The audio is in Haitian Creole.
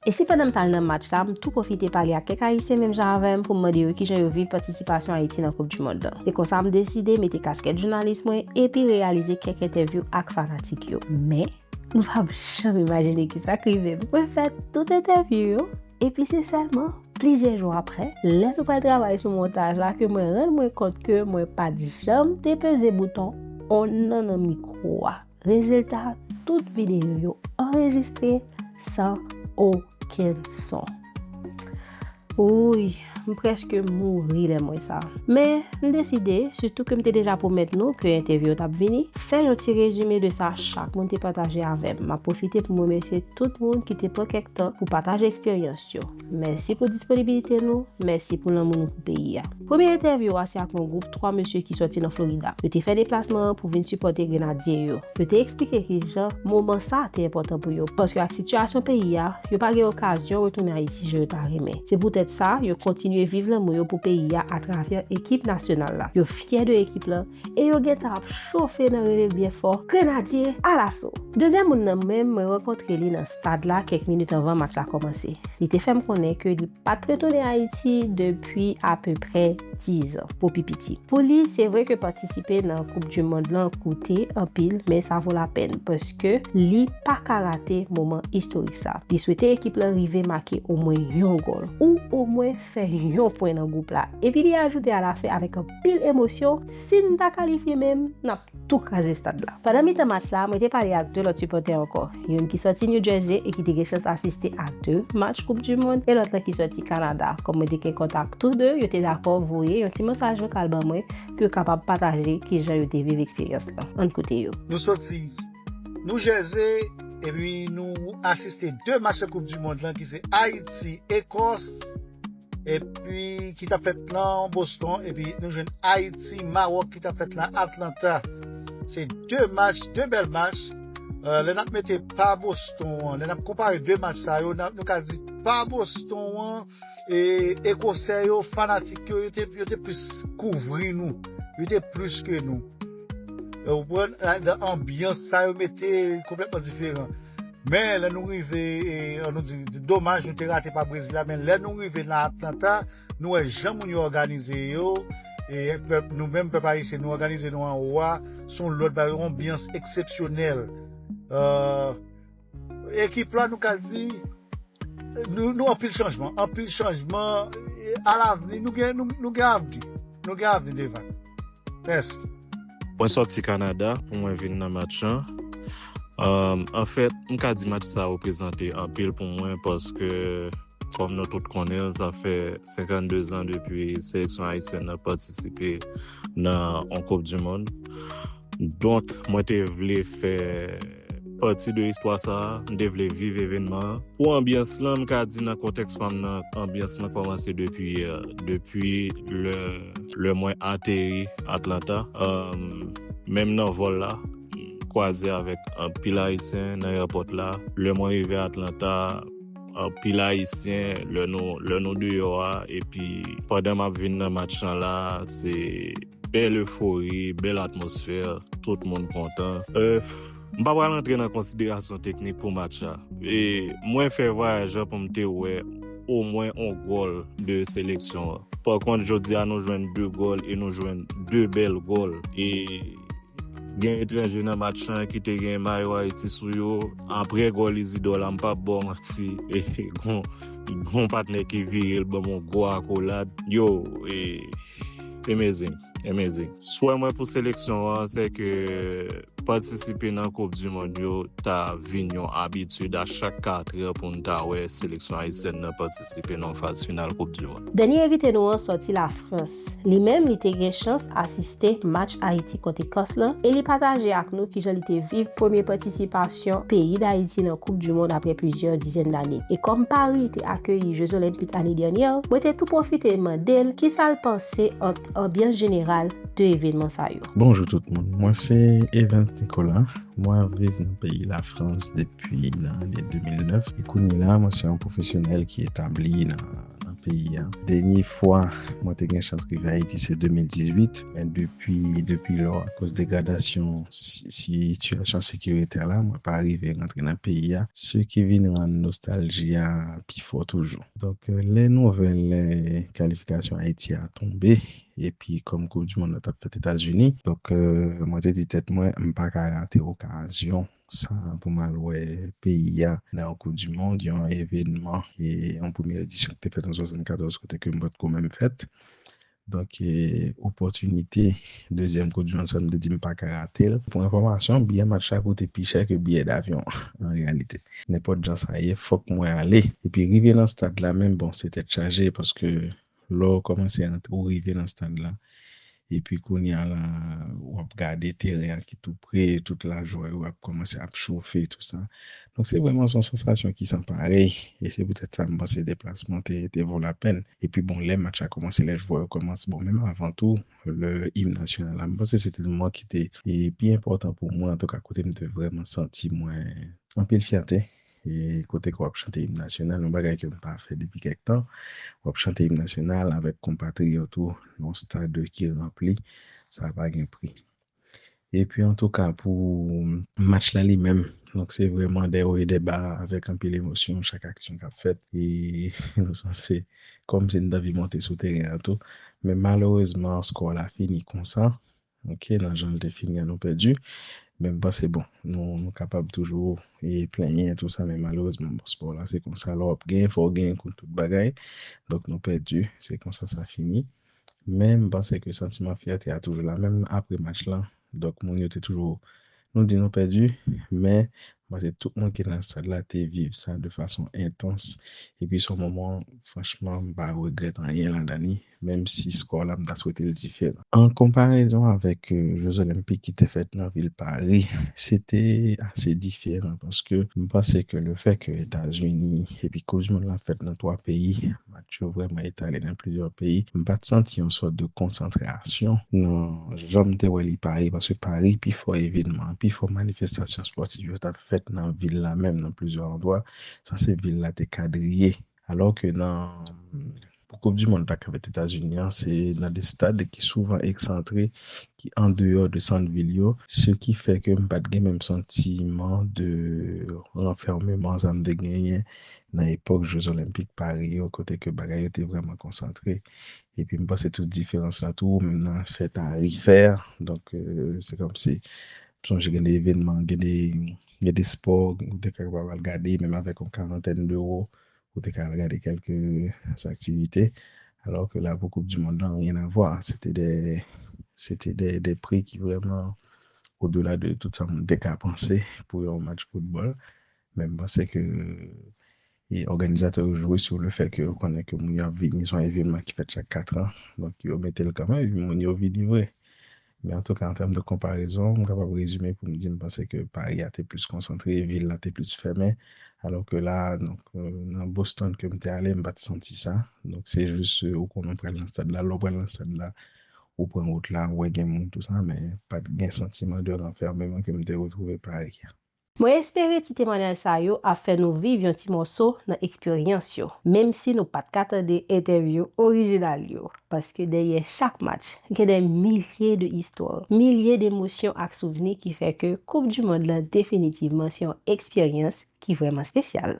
E si pandan m t al nan match la, m tou pwofite pale ak kèk Ayisyen menm jan avè m pou m mande yo kijan yo viv patisipasyon Ayiti nan koup du mond lan. Se konsa m deside mete kaskèt jounalis mwen epi reyalize kèk entèvyou ak fanatik yo. Men, nou p ap janm imajine kisa k rive m. Mwen fè tout entèvyou yo, epi se sèlman plizyè jou aprè, lè nou pral travay sou montaj la ke mwen rann mwen kont ke mwen pa t janm te peze bouton on nan nan mikwo a. Rezilta tout videyo yo anrejistre san okenn son. Wouy, m preske mouri lè m wè sa. Men, m deside, sitou ke m te deja pwomèt nou ke entèvyou yo t ap vini, fè yon ti rezime de sa chak moun te pataje avè m. M ap pwofite pou m remèsye tout moun ki te pran kèk tan pou pataje eksperyans yo. Mèsi pou disponibilite nou, mèsi pou lanmou nou pou peyi a. Premye entèvyou a se ak yon gwoup 3 mesye ki sòti nan Florida. Yo te fè deplasman an pou vin sipòte Grenadye yo. Yo te eksplike kijan moman sa te enpòtan pou yo, paske ak sitiyasyon peyi a, yo pa gen okazyon retounen Ayiti jan yo ta renmen. Se poutèt sa, yo kontinye viv lanmou yo pou peyi a atravè ekip nasyonal la. Yo fyè de ekip lan. e yo gentan ap chofe nan rele byen fò, Grenadye, alaso! Dezyèm moun nan menm, mwen rankontre li nan stad la kèk minit anvan match la kòmanse. Li te fè m konnen ke li pa t retounen Ayiti depi apeprè dizan, pou pi piti. Pou li, se vre ke patisipe nan koup di mond lan koute anpil, men sa vo lapèn, paske li pa ka rate moman istorik sa. Li swete ekip lan rive make omwen yon gòl, ou omwen fè yon pwen nan gwoup la, epi li ajoute alafen avèk anpil. pil emosyon, si n ta kalifye menm, n ap tou kraze stad la. Pandan mitan match la, mwen te pale ak 2 lòt sipòtè ankò, youn ki sòti New Jersey e ki te gen chans asiste a 2 match koup du mond e lòt lan ki sòti Kanada. Kòm mwen te gen kontak tou 2, yo te dakò voye yon ti mesaj vokal ban mwen pou yo kapab pataje kijan yo te viv eksperyans lan. Ann koute yo. Nou sòti New Jersey epi nou asiste 2 match koup du mond lan ki se Ayiti, Ekòs. epi ki tap fèt nan Boston, epi nou jwenn Ayiti, Mawòk ki tap fèt nan Atlanta. Se 2 match, 2 bèl match. Euh, lè nap mete pa Boston an, lè nap konpare 2 match sa yo, nou ka di pa Boston an, e Ekosè yo, fanatik yo, yo te plis kouvri nou. Yo te plis ke nou. Ou pran, anbyans sa yo mete, konplètman diferan. Men lè nou rive, an nou di, domaj nou te rate pa Brezil la, men lè nou rive nan Atlanta, nou wè jan moun yo òganize yo, e pèp, nou menm pèp ayisyen, nou òganize nou anwo a, son lòt bagay, yon anbyans eksepsyonèl. Ekip la nou ka di, nou anpil chanjman, anpil chanjman, alavni nou gen avni. Nou gen avni devan nou. Mèsi. Mwen sòti Kanada pou mwen vin nan match lan. Anfèt, m ka di match sa reprezante anpil pou mwen paske kòm nou tout konnen l, sa fè 52 zan depi seleksyon ayisyèn nan patisipe nan yon koupdimonn. Donk, mwen te vle fè. Pati 2 istwa sa a, m te vle viv evenman an. Pou anbyans lan, m ka di nan kontèks pa m nan, anbyans lan kòmanse depi yè, depi lè mwen ateri Atlanta. Menm nan vòl la, m kwaze avèk anpil Ayisyen nan èpòt la. Lè mwen rive Atlanta, anpil Ayisyen, lè nou deyò a, epi pandan m ap vin nan match lan la, se. Bèl efori, bèl atmosfè, tout moun kontan. M pa pral antre nan konsiderasyon teknik pou match la. Mwen fè vwayaj la pou m te wè omwen on gòl de seleksyon an. Pa kont jodi a nou jwenn 2 gòl e nou jwenn 2 bèl gòl. E gen etranje nan match lan ki te gen mayo Ayiti sou yo. Aprè gòl Izidò la m pa p ba w manti gon patnè ki vire l ban m on gwo akolad. Yo! Amazing, amazing. Swè mwen pou seleksyon an se ke patisipe nan koup du mond yo ta vin yon abitid a chak 4 an pou nou ta wè seleksyon ayisyèn nan patisipe nan yon faz final koup du mond. Dènye envite nou an sòti Lafrans. Li menm li te gen chans asiste match Ayiti kont Ekòs lan e li pataje ak nou kijan li te viv premye patisipasyon kalifikasyon peyi Dayiti nan koup du mond apre plizyè dizèn dane. E kòm Paris te akeyi je zolenpik ane dènyè, mwen te tou pwofite mande l kisa l panse ant anbyans jeneral 2 evenman sa yo. Bonjou tout moun, mwen se Evens Nicolas, mwen ap viv nan peyi Lafrans depi nan ane 2009 e kounyela mwen se yon pwofesyonèl ki etabli nan. nan peyi a. Dènye fwa mwen te gen chans rive Ayiti se 2018, men depi depi lò akoz degradasyon sitiyasyon sekiritè la mwen pa rive rantre nan peyi a, se ki vin rann nostalji a pi fò toujou. Donk lè nouvèl kalifikasyon Ayiti a tonbe epi kòm koup di mond lan t ap fèt Etazini, donk mwen te di tèt mwen m pa ka rate okazyon Sa pou m al wè peyi a. Nan yon koup di mond, yon evenman, yon premye edisyon ki te fèt an 74 kote ke m pa t ko menm fèt. Donk opòtinite dezyèm koup di mond sa m te di m pa ka rate l. Pou enfòmasyon, biyè match la koute pi chè ke biyè davyon an reyalite. Nenpòt jan sa ye fòk mwen ale. Epi rive nan stad la menm bon se tèt chaje paske Lè w kòmanse antre, ou rive nan stad la, epi kounye a la, w ap gade teren an ki tou pre, tout lajwa yo ap kòmanse ap chofe, tout sa. Donk se vrèman son sansasyon ki san parèy, e se poutèt sa m panse deplasman te te vo lapèn. Epi bon, lè match la kòmanse, lè jwè yo kòmanse, bon menm avan tou, lè im nasyonal la, m panse se te moman ki te pi enpòtan pou mwen, antouka kote m te vrèman santi mwen anpil fyète Kote ke w ap chante Im Nasyonal, yon bagay ke m pa fè depi kèk tan, w ap chante Im Nasyonal avèk konpatriyòt ou nan yon stad ki ranpli, sa pa gen pri. E pi antouka pou match la li menm, donk se vrèman dè wo e dè ba avèk anpil emosyon chak aksyon k ap fèt e nou sanse kòmsi n te anvi monte sou teren an tou men malerezman skò la fini konsa. Ok nan janl te fini an nou pèdi men m panse bon nou nou kapab toujou plenyen tou sa men malerezman bon spò la se konsa lè wap genyen fòw genyen kon tout bagay donk nou pèdi se konsa sa fini men m panse ke santiman fyète a toujou la menm aprè match lan donk moun yo te toujou Nou di nou pèdi, men m panse tout moun ki nan sal la te viv sa de fason entans, epi s on moman franchman m pa regrèt anyen ladan li, menm si skò la m ta swete l diferan. An konparezon avèk Jeux Olympiques ki te fèt nan vil Pari, se te ase diferan paske m panse ke lefè ke Etazini epi koup di mond lan fèt nan 3 peyi, Match yo vrèman etale nan plizyè peyi. M pa t santi yon sòt de konsantrasyon nan jan m te wè li Pari paske Pari pi fò evenman, pi fò manifestasyon spòtif yo t ap fèt nan vil la menm nan plizyè andwa sanse vil la te kadriye alò ke nan pou koup di mond la k ap fèt Etazini an se nan de stad ki souvan eksantre ki andeyò de sant vil yo, se ki fè ke m pa t gen menm santiman de ranfèmeman sa m te genyen nan epòk je zolenpik Pari yo kote ke bagay yo te vrèman konsantre. Epi m panse tou diferans la tou menm nan afè tarifè a, donk se kòm si m sonje gen de evènman, gen de spò ou te kapab al gade menm avèk yon karantèn dewo Ou te ka al gade kèlke aktivite, alò ke la pou koup di mond lan ryen avwa. Se te de, se te de, de pri ki vrèman o de la de tout sa moun te ka panse pou yon match foutbòl. Men m panse ke e òganizatè yo jwe sou le fè ke yo konnen ke moun yo ap vini, se yon evenman ki fèt chak katran, donk yo mete l kanmenm epi moun yo vini vre. Men antouka an tèm de konparezon, m kapab rezime pou m di m panse ke Pari a te plis konsantre, vil la te plis fèmen, alò ke la a, donk, nan Boston ke m te ale, m pa t santi sa. Donk, se jis ou konnen ou pral nan stad la, lè ou pral nan stad la, ou pran wout la, ou wè gen moun tou sa, men pa t gen santiman de ranfèmeman ke m te retwouve Pari a. Mwen espere ti temwanyaj sa yo ap fè nou viv yon ti mòso nan eksperyans yo, menm si nou pat ka tande entèvyou orijinal yo, paske dèyè chak match gen dè milye de istwa, milye de emosyon ak souvni ki fè ke Koup di Mond lan definitivman se yon eksperyans ki vrèman spesyal.